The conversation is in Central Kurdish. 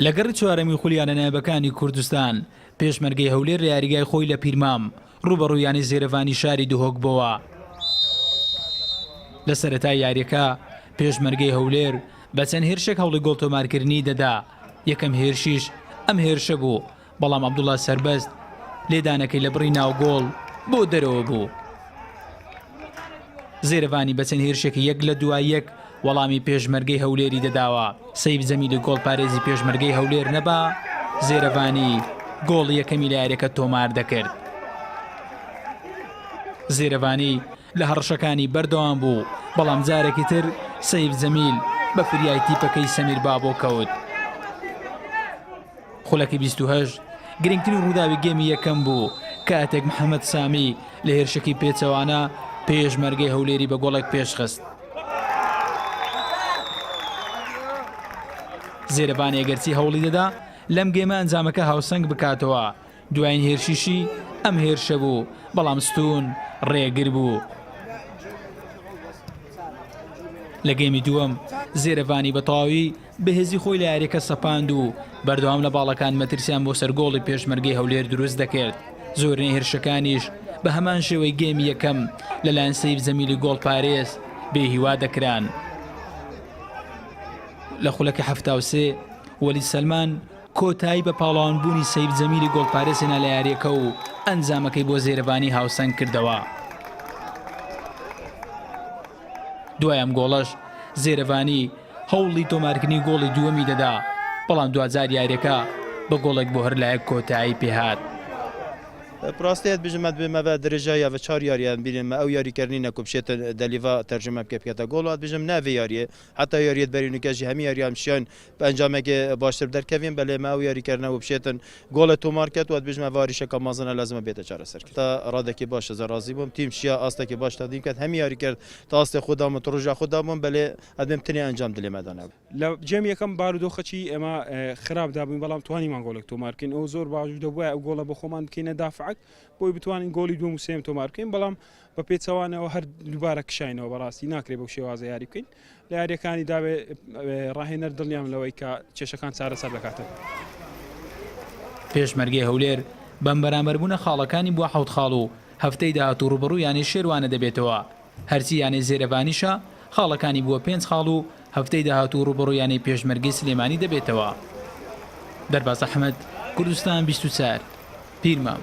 لە گەڕی چوارەمی خولیانە نایبەکانی کوردستان پێشمەرگەی هەولێر لە یاریگای خۆی لە پیرمام ڕوبەڕوویانی زێرەڤانی شاری دهۆک بۆوە لە سەرەتا یاریەکە پێشمەرگەی هەولێر بە چەند هێرشێک هەوڵی گۆڵ تۆمارکردنی دەدا یەکەم هێرشیش ئەم هێرشە بوو بەڵام عەبدوڵا سەربەست لێدانەکەی لە بڕی ناو گۆڵ بۆ دەرەوە بوو. زێرەڤانی بە چەند هێرشێکی یەک لە دوای یەک وەڵامی پێشمەرگەی هەولێری دەداوە. سەیف جەمیلی گۆڵپارێزی پێشمەرگەی هەولێر نەبا، زێرەڤانی گۆڵی یەکەمی لە یاریەکە تۆمار دەکرد. زێرەڤانی لە هەڕەشەکانی بەردەوام بوو، بەڵام جارێکی تر سەیف جەمیل بە فریای تیپەکەی سەمیر بابۆ کەوت. خولەکی بیست و هەشت گرنگترین ڕووداوی گێمی یەکەم بوو، کاتێک محەمەد سامی لە هێرشێکی پێچەوانە پێشمەرگەی هەولێری بە گۆڵێک پێشخست. زێرەڤان ئێگەرچی هەوڵی دەدا لەم گێمە ئەنجامەکە هاوسەنگ بکاتەوە، دوایین هێرشیشی ئەم هێرشە بوو، بەڵام ستوون ڕێگر بوو. لە گێمی دووەم، زێرەڤانی بە تەواوی بەهێزی خۆی لە یارییەکە سەپاند و بەردەوام لە باڵەکان مەترسیان بۆ سەر گۆڵی پێشمەرگەی هەولێر دروست دەکرد، زۆرینەی هێرشەکانیش بە هەمان شێوەی گێمی یەکەم لەلایەن سەیف جەمیلی گۆڵپارێز بێهیوا دەکران. لە خولەکی حەفتا و سێ، وەلید سەلمان، کۆتایی بە پاڵەوانبوونی سەیف جەمیلی گۆڵپارێز هێنا لە یارییەکە و ئەنجامەکەی بۆ زێرەڤانی هاوسەنگ کردەوە. دوای ئەم گۆڵەش زێرەڤانی هەوڵی تۆمارکردنی گۆڵی دووەمی دەدا، بەڵام دواجار یارییەکە بە گۆڵێک بۆ هەر لایەک کۆتایی پێهات. بڕاستێ یەت بژم مەد بێمە بە درێژای یا ڤە چار یاریان بیرێن مە ئەو یاری کەرنی نە کو بشێتن دە لیڤا تەرجومە بکێ بکێتە گۆڵ وات بژم نا ڤێ یاریێ حەتا یاریێت بەرینوکێ ژی هەمی یاریان بشیاین بە ئەنجامێگێ باشتر دەرکەڤین، بەلێ مە ئەو یاریکەرنە وبشێتن گۆڵێ تۆمار کەێد، وە دبیژمە ڤارێ شەکە مەزنە لازمە بێتە چارەسەرکرد. تا رادەکێ باش ئەزە رازی بووم، تیم شیا ئاستەکێ باش تەقدیم کەێد، هەمی یاریکەر تا ئاستێ خوود دابوون، تو رژا خوود دابوون، بەلێ ئەدبێم تنێ ئەنجام دلێ مە دانەو. لە جێم یەکەم بارودۆخەچی ئێمە خراپ دابووین، بەڵام توانیمان گۆڵێک تۆمار بکەین، ئەو زۆر باش دەبوایە ئەو گۆڵە بە خۆمان بکەینە دافعەک، بۆی بتوانین گۆڵی دووەم و سێیەم تۆمار بکەین، بەڵام بە پێچەوانەوە هەر دووبارە کشاینەوە، بەڕاستی ناکرێ بەو شێوازە یاری بکەین. لە یارییەکانی داوێ راهێنەر دڵنیام لەوەی کە کێشەکان چارەسەر دەکاتەوە. پێشمەرگەی هەولێر بەم بەرامبەربوونە خاڵەکانی بووە حەوت خاڵ و هەفتەی داهاتوو رووبەڕووی یانەی شێروانە دەبێتەوە، هەرچی یانەی زێرەڤانیشە خاڵەکانی بووە پێنج خاڵ و هەفتەی داهاتوو رووبەڕووی یانەی پێشمەرگەی سلێمانی دەبێتەوە. دەرباز ئەحمەد، کوردستان بیست و چوار، پیرمام.